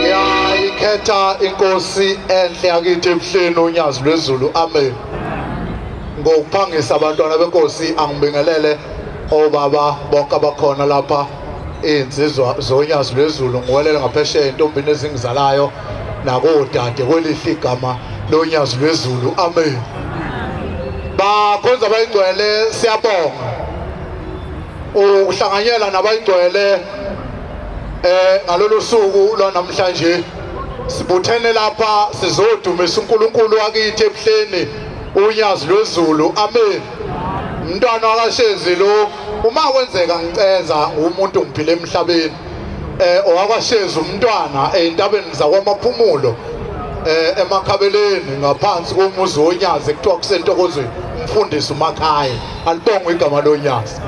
Ngiyayikhetha inkosi enhle yakithi ebuhleni unyazi lwezulu. Amen. Ngokuphangisa abantwana benkosi angibingelele obaba bonke abakhona lapha iy'nsizwa zonyazi lwezulu ngiwelele ngaphesheya entombini ezingizalayo nakodade kwelihle igama lonyazi lwezulu amen bakhonza bayingcwele siyabonga ukuhlanganyela nabayigcwele eh ngalolu suku lwanamhlanje sibuthene lapha sizodumisa uNkulunkulu wakithi ebuhleni unyazi lwezulu amen umntwana wakashezi lo uma kwenzeka ngicenza umuntu ngiphile emhlabeni eh owakwashezi umntwana eintabeni zakwamaphumulo eh emakhabeleni ngaphansi komuzi wonyazi ekuthiwa kusentokozweni umfundisi umakhaya alibongwe igama lonyazi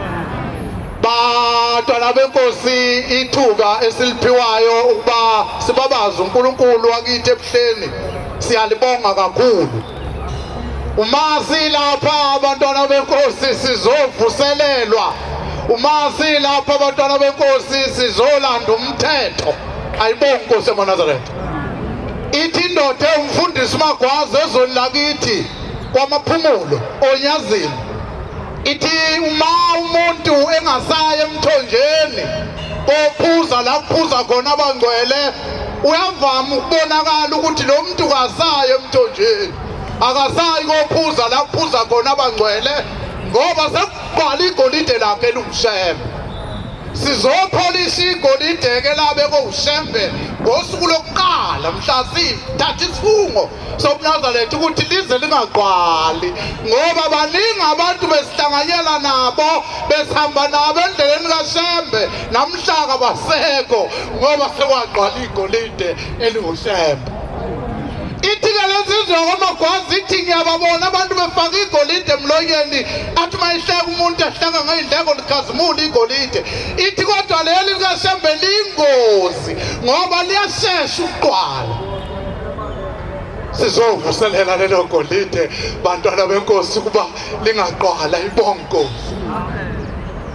batwana benkosi ithuba esiliphiwayo ukuba sibabaze uNkulunkulu wakithi ebuhleni siyalibonga kakhulu uma silapha abantwana benkosi sizovuselelwa uma silapha abantwana benkosi sizolanda umthetho ayibonga inkosi emaNazaretha ithi indoda ewumfundisi uMagwaza ezweni lakithi kwamaphumulo onyazini ithi uma umuntu engasaye emthonjeni kophuza la kuphuza khona abangcwele uyavama ukubonakala ukuthi lo muntu kasaye emthonjeni akasayi kophuza la kuphuza khona abangcwele ngoba sekubhala igolide lakhe elungushembe sizopholisa igolide-ke labe kowushembe ngosuku lokuqala mhla sithatha isifungo sobunazaletha ukuthi lize lingaqwali ngoba baningi abantu besihlanganyela nabo besihamba nabo endleleni kashembe namhlaka basekho ngoba sekwaqwala igolide elingushembe ithike lensizwe kwamagwazi ithi ngiyababona abantu befaka igolide emlonyeni athi uma ihleka umuntu ahleka ngey'ndleko likhazimula igolide ithi kodwa leli likashembe liyingozi ngoba liyashesha ukuqwala sizovuselela lelo golide bantwana benkosi ukuba lingaqwala ibonkosi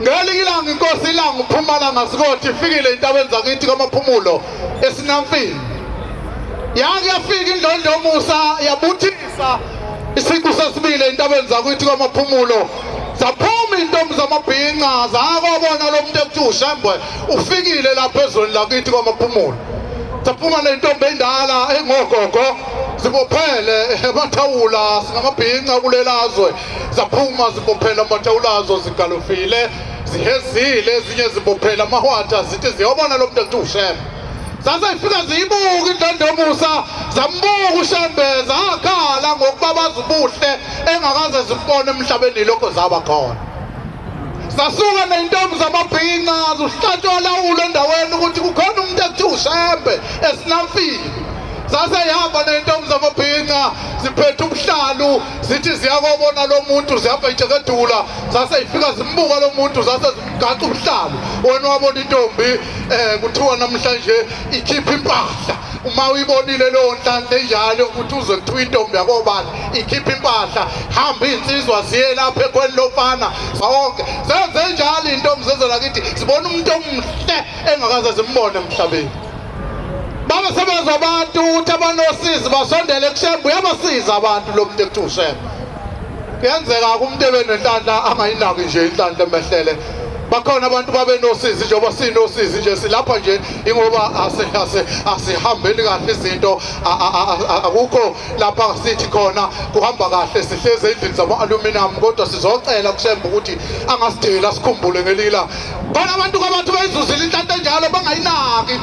ngelinye ilanga inkosi ilanga uphumalanga sikothi ifikile entabeni zakithi kwamaphumulo esinamfini yake yafika indlondlomusa yabuthisa isiqu sesibili entabeni zakithi kwamaphumulo zaphuma intombi zamabhinca zakobona lo muntu ekuthiwa ushembwe ufikile lapha ezweni lakithi kwamaphumulo saphuma nentombi endala engogogo zibophele amathawula singamabhinca kulelazwe zaphuma zibophele amathawulazo zigalofile zihezile ezinye zibophele amahwatha zithi ziyobona lo mntu ethi ushembe zazayifika ziyibuka indlondomusa zambuka ushembe zakhala ngokubabaza ubuhle engakaze zibone emhlabeni lokho zaba khona zasuka ney'ntombi zamabhinca zuhlatshwa lawulo endaweni ukuthi kukhona umuntu ekuthiwa ushembe esinamfile zaseyihamba ney'ntombi zamabhinca ziphethe ubuhlalu zithi ziyakobona lo muntu zihamba ijekedula zaseyifika zimbuka lo muntu zase zimgaca ubuhlalu wena wabona intombi um kuthiwa namhlanje ikhipha impahla uma uyibonile leyo nhlanhla enjalo ukuthi uze kuthiwa intombi yakobani ikhipha impahla hamba iy'nsizwa ziye lapha ekhweni lofana zonke zenze njalo iy'ntombi zezela kithi zibona umuntu omuhle engakaze zimbone emhlabeni baba sebenza abantu ukuthi abanosizi basondele kushembe uyabasiza abantu lo muntu ekuthiwa ushembe kuyenzeka umuntu ebenenhlanhla angayinaki nje inhlanhla emehlele bakhona abantu babenosizi njengoba sinosizi nje silapha nje ingoba asihambeli kahle izinto akukho lapha sithi khona kuhamba kahle sihlezi endlini zama-aluminum kodwa sizocela kusemba ukuthi angasideli asikhumbule ngelila khona abantu kabathu bayizuzile inhlanhla enjalo bangayinaki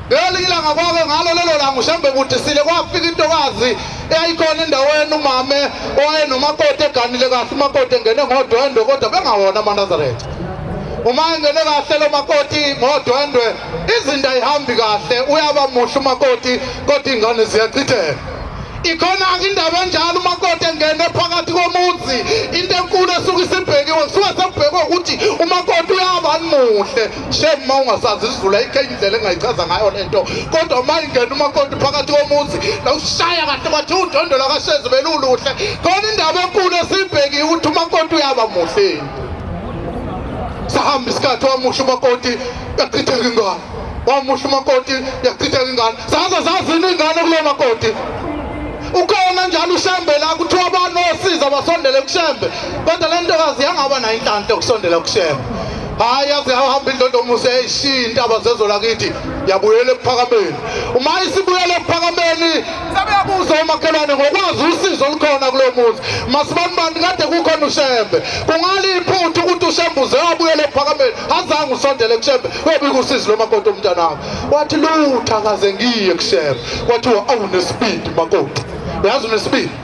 Ngelinye ilanga kwake ngalo lelo langa uShambe kudisile kwafika intokazi eyayikhona endaweni umame owayenomakoti eganile kahle umakoti engene ngodwendwe kodwa bengawona amanazaretha uma engene kahle lo makoti ngodwendwe izinto ayihambi kahle uyaba muhle umakoti kodwa iy'ngane ziyachitheka ikhona indaba enjalo umakoti engene phakathi komuzi into enkulu esuke isibhekiwe kusuke sekubhekwe ukuthi umakoti uyabani muhle shame uma ungasazi isivula ikhe indlela engayichaza ngayo le nto kodwa uma ingena umakoti phakathi komuzi nawushaya kahle kwathi undondolo kashezi beluluhle khona indaba enkulu esiyibhekiwe ukuthi umakoti uyaba muhle sahamba isikhathi wamusha umakoti yachitheka ingane wamusha umakoti yachitheka ingane zaze zazini ingane kulo makoti ukhona njalo ushembe la kuthiwa abantu osiza basondele kushembe kodwa le ntokazi yangaba nayo inhlanhla yokusondela kushembe hayi aze ahamba indondomuso yayishiya intaba zezo lakithi yabuyela ekuphakameni uma isibuyela ekuphakameni sabeyabuza umakhelwane ngokwazi usizo olukhona kulo muzi masibanibani kade kukhona ushembe kungale iphutha ukuthi ushembe uze wabuyela ekuphakameni azange usondele kushembe webika usizi lomakoti omntanakho wathi lutha kaze ngiye kushembe kwathiwa awunesibindi makoti uyazi unesibindi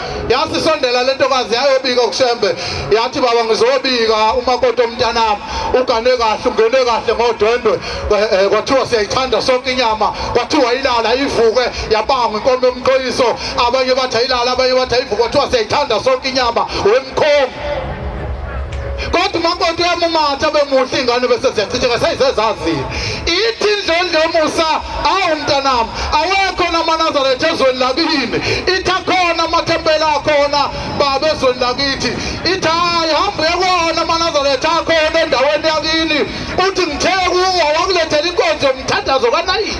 yasisondela le ntokazi yayobika kushembe yathi baba ngizobika umakoti omntanami ugane kahle ungene kahle ngodwendwe eh, eh, kwathiwa siyayithanda sonke inyama kwathiwa ilala ivuke yabangwa inkomo yomqoyiso abanye bathi ayilala abanye bathi ayivuke kwathiwa siyayithanda sonke inyama wemkhongo kodwa umakoti uyamumatha bemuhle iy'ngane bese ziyachitheka seyizezaziyo ithi indlondlo yomusa awu mntanami awekho namanazaretha ezweni lakini ithi akhona amathempeli akhona baba ezweni lakithi ithi hayi hambe uyekona amanazaretha akhona endaweni yakini uthi ngithe kuwo wakulethela inkonzo yomthandazo kanayini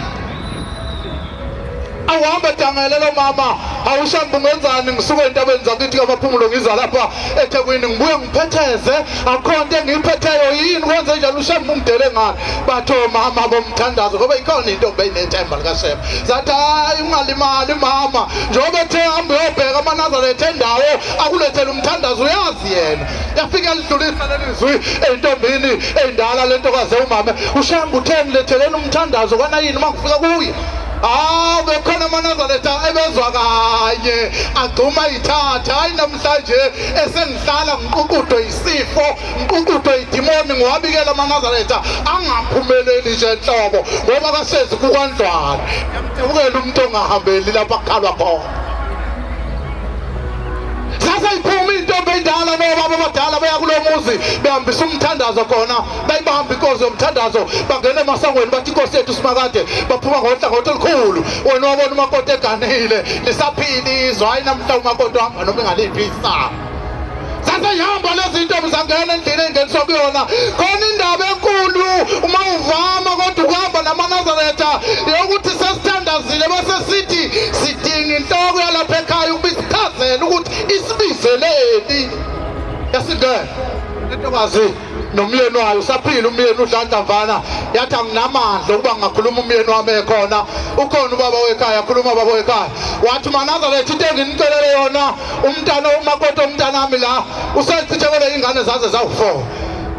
awuhambe dangele lo mama awushambe ungenzani ngisuke entabeni zakithi kabaphumulo ngiza lapha ethekwini ngibuye ngiphetheze akho nto engiyiphetheyo yini kwenze njalo ushambe ungidele ngani batho mama bomthandazo ngoba ikhona into beyinethemba likashema zathi hayi ungalimali mama njengoba ethe hambe uyobheka amanazaretha endawo akulethele umthandazo uyazi yena yafike lidlulisa lelizwi eyintombini eyindala lentokaze umame ushambe utheni letheleni umthandazo kwanayini uma kufika kuye bekhona amanazareta ebezwa kanye agxuma ithatha hayi namhlanje esengihlala ngiququdwe yisifo ngiququdwe idimoni ngiwabikela amanazareta angaphumeleli nje nhlobo ngoba kasezi kukwandlwana yamcebukela umuntu ongahambeli lapha kukhalwa khona sase iphuma into obendala nobaba abadala beya kulo muzi behambisa umthandazo khona bayibamba inkozi yomthandazo bangena emasangweni bathi inkosi yethu simakade baphuma ngohlangothi olukhulu wena wabona umakoti eganile lisaphila izwe hhayi namhla umakoti wahamba noma engaliphi isaba saseyihamba lezi nto mzangena endlini engeniswa kuyona khona indaba enkulu uma uvama kodwa ukuhamba namanazaretha yokuthi sesithandazile bese sithi sidinga inhloko yalapha ekhaya ukuba isichazele ukuthi isibizeleni esingena into kazi nomyeni wayo usaphila umyeni udlanta mfana yathi anginamandla ukuba ngingakhuluma umyeni wami ekhona ukhona ubaba wekhaya akhuluma ubaba wekhaya wathi manazareth into enginicelele yona umntana umakoti omntanami la usechithekele iy'ngane zaze zawu-four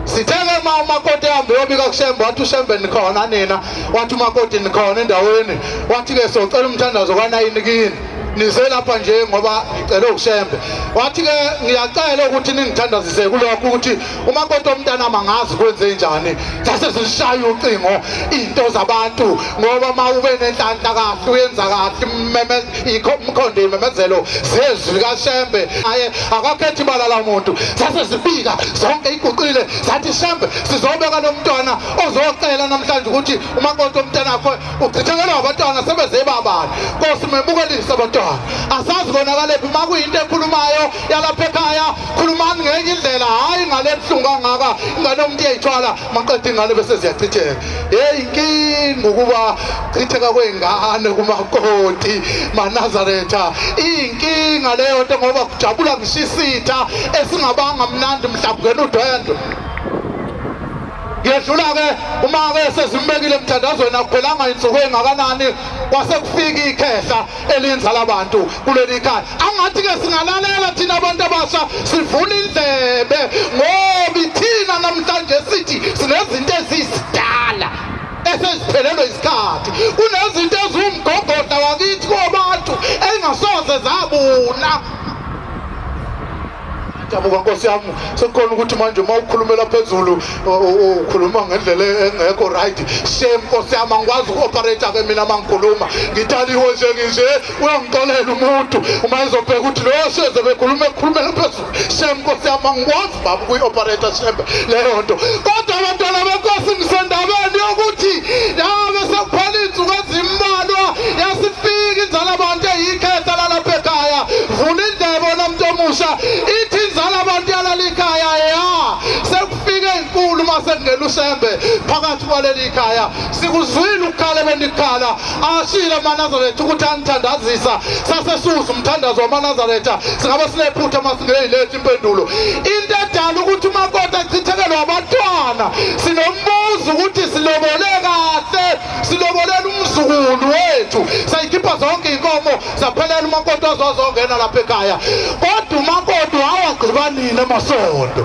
sithele ma umakoti hambe yobika kushembe wathi ushembe nikhona nina wathi umakoti nikhona endaweni wathi-ke socela umthandazo kwanayini kini nize lapha nje ngoba ngicele ushembe wathi ke ngiyacela ukuthi ningithandazise kulokho ukuthi uma kodwa umntana mangazi kwenze njani sase sishaya ucingo into zabantu ngoba uma ube nenhlanhla kahle uyenza kahle meme ikho umkhondo imemezelo zezwi kashembe aye akakhethi balala umuntu sase sibika zonke iguqile sathi shembe sizobeka lomntwana ozocela namhlanje ukuthi uma kodwa umntana wakho uchithekelwa abantwana sebeze babani nkosi mebukelise abantwana asazi konakalaphi uma kuyinto ekhulumayo yalapha ekhaya khulumani ngenye indlela hhayi ingane ebuhlungu kangaka ingane omuntu iyayithwala maqeda ingane bese ziyachitheka heyi inkinga ukuba chitheka kwey'ngane kumakoti manazaretha iyinkinga leyo nto ngoba kujabula ngishisitha esingabanga mnandi mhlawumbe ngena udwendwe Yedlula-ke uma-ke sezimbekile emthandazweni akuphelanga insuku engakanani kwase kufika ikhehla elinza labantu kuleli khaya angathi-ke singalalela thina abantu abasha sivula indlebe ngoba ithina namhlanje sithi sinezinto ezizidala eseziphelelwe isikhathi kunezinto eziwumgogodla wakithi kobantu engasoze zabuna Dabuka nkosi yami sekukhona ukuthi manje uma ukhulumela phezulu ukhuluma ngendlela engekho right shame nkosi yami angikwazi uku-operate ke mina uma ngikhuluma ngitaliwe nje nginje uyangixolela umuntu uma ezobheka ukuthi loyo seze bekhuluma ekhulumela phezulu shame nkosi yami angikwazi baba ukuyi-operate shembe leyo nto kodwa abantwana benkosi ngisendabeni yokuthi yabe sekuphela iy'nsuku ezima Mbalwa yasifika inzala abantu eyikhehla lalapha ekhaya. Vula indlebe wena muntu omusha. Ithi inzala abantu yalala ikhaya ya. Sekufike inkulu uma sekungena uSembe phakathi kwaleli ikhaya. Sikuzwile ukukhala benikhala. Ashile amaNazaretha ukuthi anithandazisa. Sase suza umthandazo wamaNazaretha. Singabe sinephutha uma singeyilethi impendulo. Into edala ukuthi umakoti achithekelwe abantwana. Sinombuzo ukuthi silobole kahle. silobolela umzukulu wethu sayikhipha zonke iy'nkomo zaphelela umakoti waze wazongena lapha ekhaya kodwa umakoti wawagqiba nini emasondo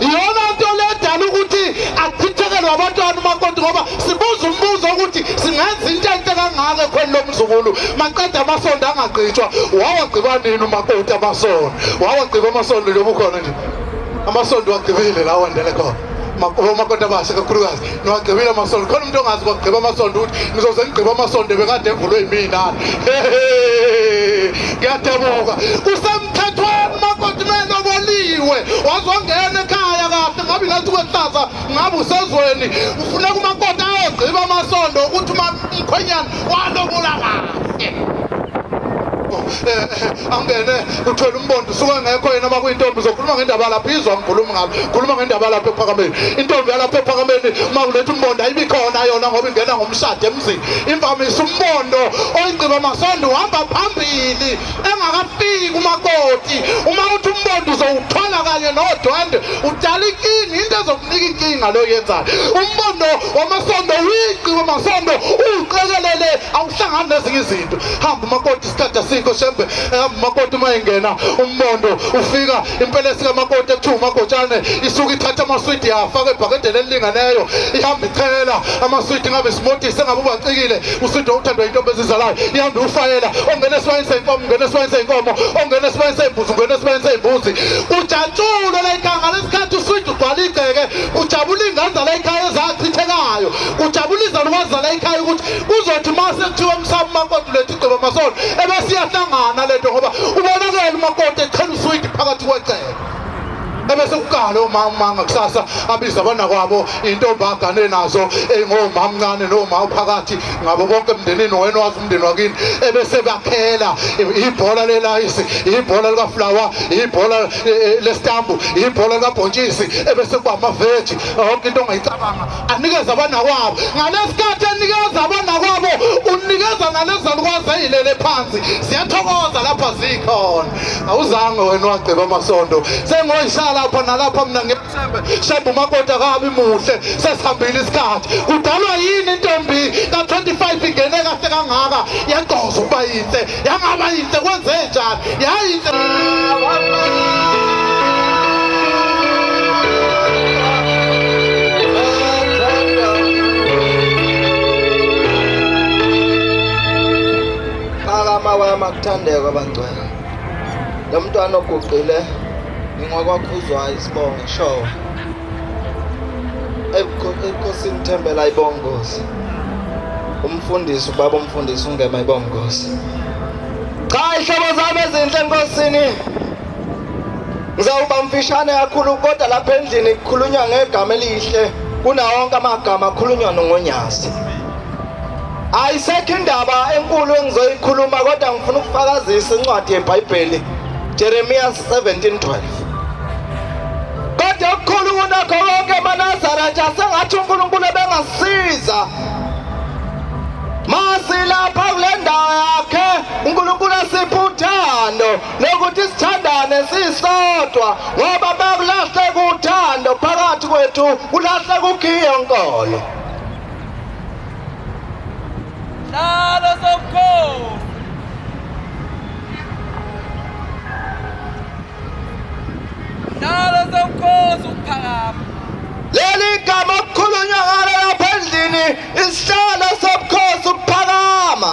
iyona nto ledala ukuthi achithekelwe abantwana umakoti ngoba sibuza umbuzo ukuthi singenza into enhle kangako ekhweni lomzukulu maqeda amasondo angagqitshwa wawagqiba nini umakoti amasondo wawagqiba amasondo njengoba ukhona nje amasondo wagqibile lawo andele khona omakoti abasha kakhulukazi niwagqibile amasonto khona umuntu ongazi kwagqiba amasonto ukuthi ngizoze ngigqiba amasonto ebekade evulwe yimina ngiyadebuka kusemthethweni makoti meloboliwe wazongena ekhaya kahle ngabe ngathi kwehlaza ngabe usezweni ufuneka umakoti ayogqiba amasonto ukuthi umkhwenyana walobola kahle angene uthwele umbondo usuke engekho yena uma kuyintombi uzokhuluma ngendaba lapho izwa mkhulumi ngalo khuluma ngendaba lapho ephakameni intombi yalapho ephakameni uma kuletha umbondo ayibi khona yona ngoba ingena ngomshado emzini imvamisa umbondo oyingciba masondo uhamba phambili engakafiki umakoti uma uthi umbondo uzowuthola kanye nodwende udala inkinga into ezokunika inkinga leyo yenzayo umbondo wamasondo uyigciba masondo uwuqekelele awuhlangani nezinye izinto hamba umakoti isikhathi asikho shembe ehamba umakoti uma engena umbondo ufika impela esikamakoti ekuthiwa umagotshane isuke ithatha amaswidi yafaka ebhakedeni elilingeneyo ihamba ichela amaswidi ngabe simotise ngabe ubacikile uswidi owuthandwa yintombi ezizalayo ihambe ufayela ongena esibayeni seyinkomo ungena esibayeni seyinkomo ongena esibayeni seyimbuzi ungena esibayeni seyimbuzi ujatshulo layikanga lesikhathi uswidi ugcwala igceke kujabula inganza layikhaya ezachithekayo kujabula izalukazi zalayikhaya ukuthi kuzothi uma sekuthiwa umsaba umakoti uletha Gceba Masondo ebesiyahlangana lento ngoba ubonakele umakoti echela uswidi phakathi kwecele ebese kuqala omama ngakusasa abiza abana kwabo intombi agane nazo engomama mncane nomama phakathi ngabo bonke emndenini wena wazi umndeni wakini ebese bakhela ibhola lelayisi ibhola likaflower ibhola e, e, lestambu ibhola likabhontshisi ebese kuba amaveji yonke into ongayicabanga anikeza abanakwabo ngalesikhathi enikeza abanakwabo unikeza nalezalukwazi eyilele phansi ziyathokoza lapha zikhona awuzange wena wagqiba amasondo sengoyishala lapha nalapha mina ngiyethembe shembe umakoti akabi muhle sesihambile isikhathi kudalwa yini intombi ka-25 ingene kahle kangaka yagqoza ukuba yinhle Yangaba yinhle kwenzenjani? Yayinhle. Mawama kuthandeka bangcwele lo mntwana oguqile ngingokwakhuzwayo isibongo show enkosini Thembela ibongozi umfundisi ubaba umfundisi ungema ibongozi cha ihlobo zami ezinhle enkosini ngizawuba mfishane kakhulu kodwa lapha endlini kukhulunywa ngegama elihle kunawonke amagama akhulunywa nongonyazi ayisekho indaba enkulu engizoyikhuluma kodwa ngifuna ukufakazisa incwadi yebhayibheli jeremiya 17 12 Kodwa okukhulu kunakho konke amanazara nje asengathi uNkulunkulu ebengasiza masilapha kule ndawo yakhe uNkulunkulu asiphe uthando lokuthi sithandane sisodwa ngoba bakulahleka uthando phakathi kwethu kulahleka ukhiye nkolo Salo sokukhosi Nalo sewukhoza ukuphakama. Leli gama okukhulunywa ngalo lapha endlini isihlalo sobukhosi ukuphakama.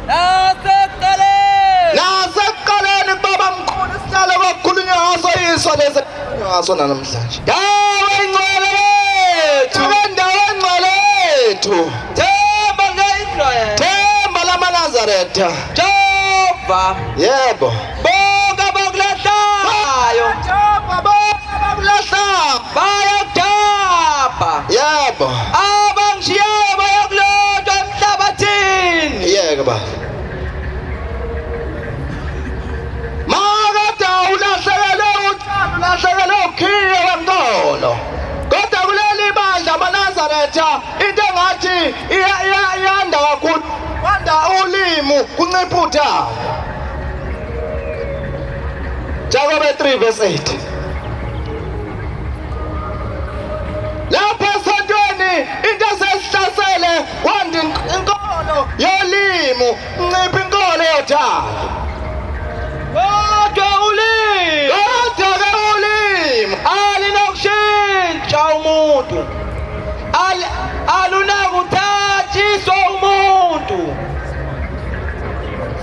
Nasekuqaleni. Nasekuqaleni kubaba mkhulu isihlalo kwakukhulunywa ngaso yiso lesi ngaso namhlanje. Dawo ingcwele yethu. Dawo ingcwele yethu. Themba ngeyindlwele. Themba lamaNazaretha. Jehova yebo bonke abakulahlayo Jehova bonke abakulahlayo bayakudabha yebo abangishiyayo bayakulotshwa emhlabathini yeke ba makade ulahlekelwe uthando ulahlekelwe ukhiye wemntolo kodwa kuleli bandla amanazaretha into engathi iyanda kakhulu kwanda ulimu kuncipha udaba Jakobe 3 verse 8 lapha esontweni into sesihlasele kwanda inkolo yolimu Nciphi inkolo yothando. Kodwa ulimi. Kodwa ulimi alinokushintsha umuntu. Al alunakuthathiswa umuntu.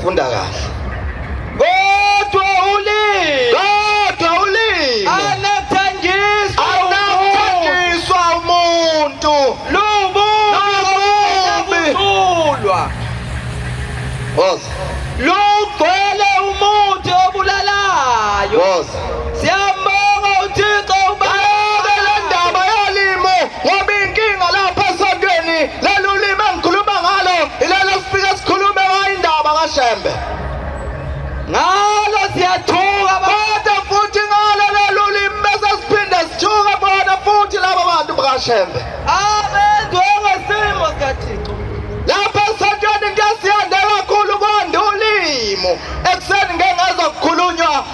Funda kahle. Boss. Lugcwele umuthi obulalayo. Boss. Siyambonga uThixo ubeke le ndaba yolimo ngoba inkinga lapha esontweni leli ulimi engikhuluma ngalo ilelo sifike sikhulume ngayo indaba kaShembe. Ngalo siyathuka kodwa futhi ngalo leli ulimi bese siphinde sithuke bona futhi laba bantu bakaShembe. Abenziwe ngesimo sikaThixo. Lapha esontweni into esiyande kakhulu kwanda ulimo. Ekuseni ngeke ngaze kukhulunywa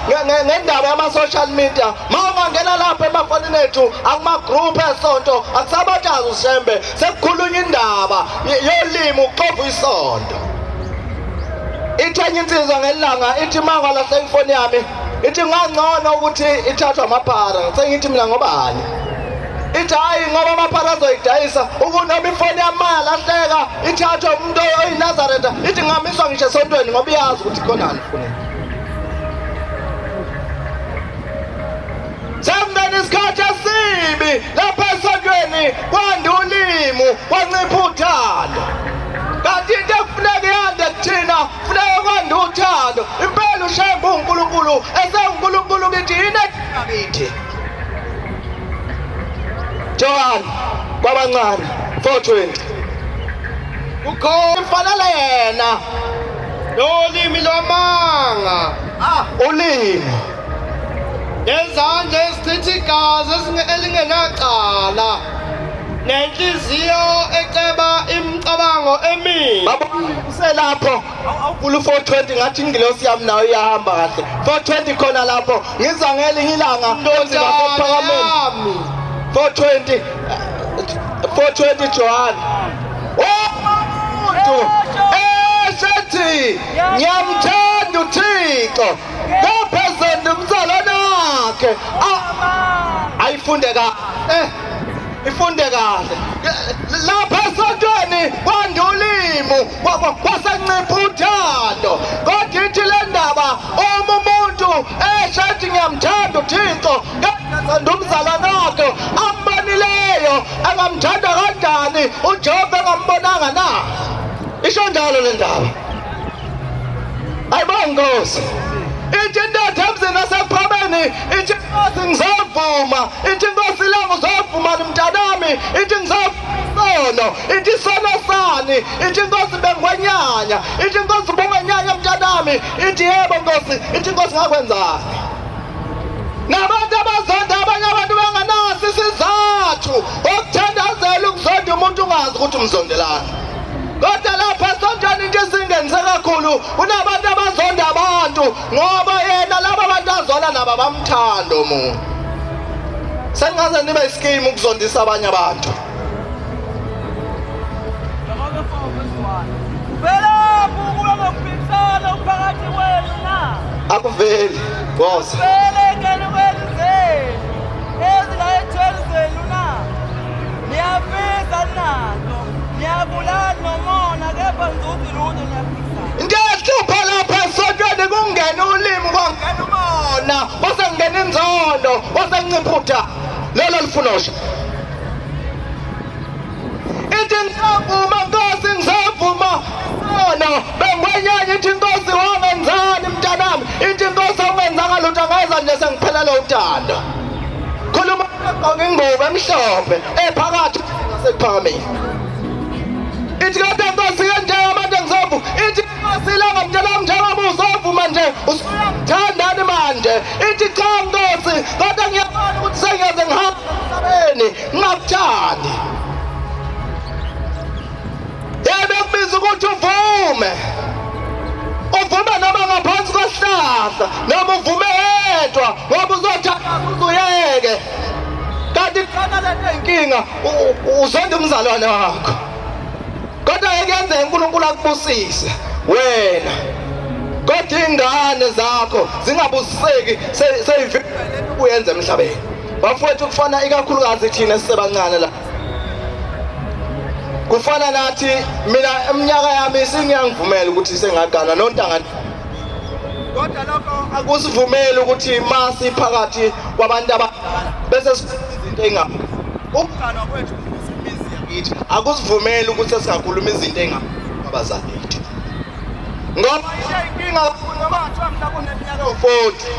ngendaba yama-social media. Ma ungangena lapha emafonini ethu akuma-group esonto akusabathazi ushembe sekukhulunywa indaba yolimi uxova isonto. Ithenye insizwa ngelanga ithi mangwa laseyifoni yami ithi ngangcono ukuthi ithathwe amaphara sengithi mina ngobani ithi hhayi ngoba amaphara azoyidayisa ukunoma ifoni yamali ahleka ithathwe umuntu oyinazareta ithi ngingamiswa ngisho esontweni ngoba iyazi ukuthi khonani funeka sembeni isikhathi esibi lapha esontweni kwanda ulimu kwancipha uthando kanti into ekufuneka iyande kuthina funeka kwanda uthando impela ushembe unkulunkulu esewunkulunkulu kithi yini ekithi Johan kwabancane 420 ukhona fanele yena lolimi lwamanga ah ulimi nezandla ezichitha igazi elingenacala nenhliziyo eceba imicabango emibi uselapho awuvula u-420 ngathi ingilosi yami nayo iyahamba kahle 420 khona lapho ngiza ngelinye ilanga onzima kophakameni 420 420 johane omuntu esethi ngiyamthanda uthixo kaphezulu umzalwane wakhe ayifunde ka eh ifunde kahle lapha esontweni kwandulimo Baba kwasancipha uthando kodwa ithi le ndaba uma umuntu esho ethi ngiyamthanda uThixo kangathanda umzalwane wakhe ambonileyo angamthanda kanjani uJehova engambonanga na isho njalo le ndaba ayibo nkosi ithi indoda emzini wasephobeni ithi nkosi ngizovuma ithi nkosi langu uzovuma mntanami ithi ngizovuma isono ithi isono sani ithi inkosi bengwenyanya ithi inkosi bungwenyanya mntanami ithi yebo nkosi ithi inkosi ngakwenzani nabantu abazonda abanye abantu benganaso isizathu okuthandazela ukuzonda umuntu ungazi ukuthi umzondelani kodwa lapha esontweni into esingenze kakhulu kunabantu abazonda abantu ngoba yena laba bantu azwana naba bamthanda omunye sengaze nibe isikimu ukuzondisa abanye abantu akuveli boza niyafisa nalo niyabulala nomona kepha ngizothi lutho niyafisa Ngiyahlupha lapha esontweni kungena ulimi kwangena umona kwase kungena inzondo kwase nginciphutha lelo lifunosha ithi ngisavuma nkosi ngisavuma sono bengwenyanya ithi nkosi wangenzani mntanami ithi nkosi awungenzanga lutho angeza nje sengiphelele uthando khuluma ogqoke ingubo emhlophe ephakathi sekuphakamile ithi kade nkosi yendawo manje ngizovu ithi nkosi ilanga mntana mnjalo uzovuma nje usithandani manje ithi cha nkosi kodwa ngiyabona ukuthi sengiyaze ngihamba emhlabeni ngingakuthandi yebe kubiza ukuthi uvume uvume noma ngaphansi kwesihlahla noma uvume yedwa ngoba uzothatha uzuyeke kanti khona lento inkinga uzonda umzalwane wakho kodwa ekuyenzeka uNkulunkulu akubusise wena kodwa ingane zakho zingabusiseki seyivile kuyenza emhlabeni bafowethu kufana ikakhulukazi thina sisebancane la kufana nathi mina eminyaka yami singiyangivumela ukuthi sengaganwa nontangana kodwa lokho akusivumeli ukuthi masi phakathi kwabantu abadala bese izinto engaphi ukuganwa kwethu imizi yakithi akusivumeli ukuthi singakhuluma izinto engaphi abazali bethu ngoba inkinga noma kuthiwa mhlawumbe uneminyaka ewu-forty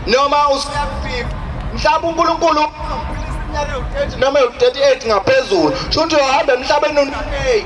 noma usuyaku-fifty mhlawumbe unkulunkulu iminyaka ewu-thirty noma ewu-thirty eight ngaphezulu sho ukuthi uyohamba emhlabeni unakei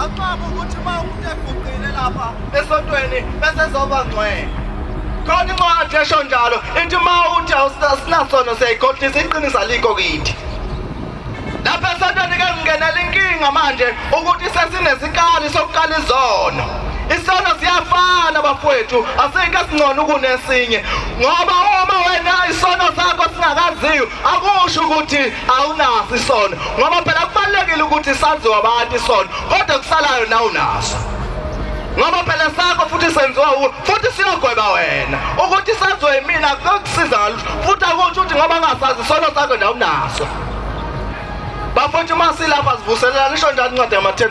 Akucabi ukuthi uma umuntu eguqile lapha esontweni bese zoba ngcwele. Khona incwadi esho njalo ithi uma uthi awusinasono siyayikhohlisa iqiniso alikho kithi. Lapha esontweni ke ngingenela inkinga manje ukuthi sesinesikali sokuqala izono. Isono siyafana bafowethu asike singcono kunesinye ngoba uma wena isono sakho singakaziyo akusho ukuthi awunaso isono ngoba phela kubalulekile ukuthi saziwa abantu isono kodwa kusalayo na unaso ngoba phela sakho futhi senziwa uwe futhi siyogweba wena ukuthi saziwe yimina kuyokusiza ngalutho futhi akusho ukuthi ngoba ngasazi isono sakho na unaso bafowethu uma silapha sivuselelana isho njani incwadi yama-ten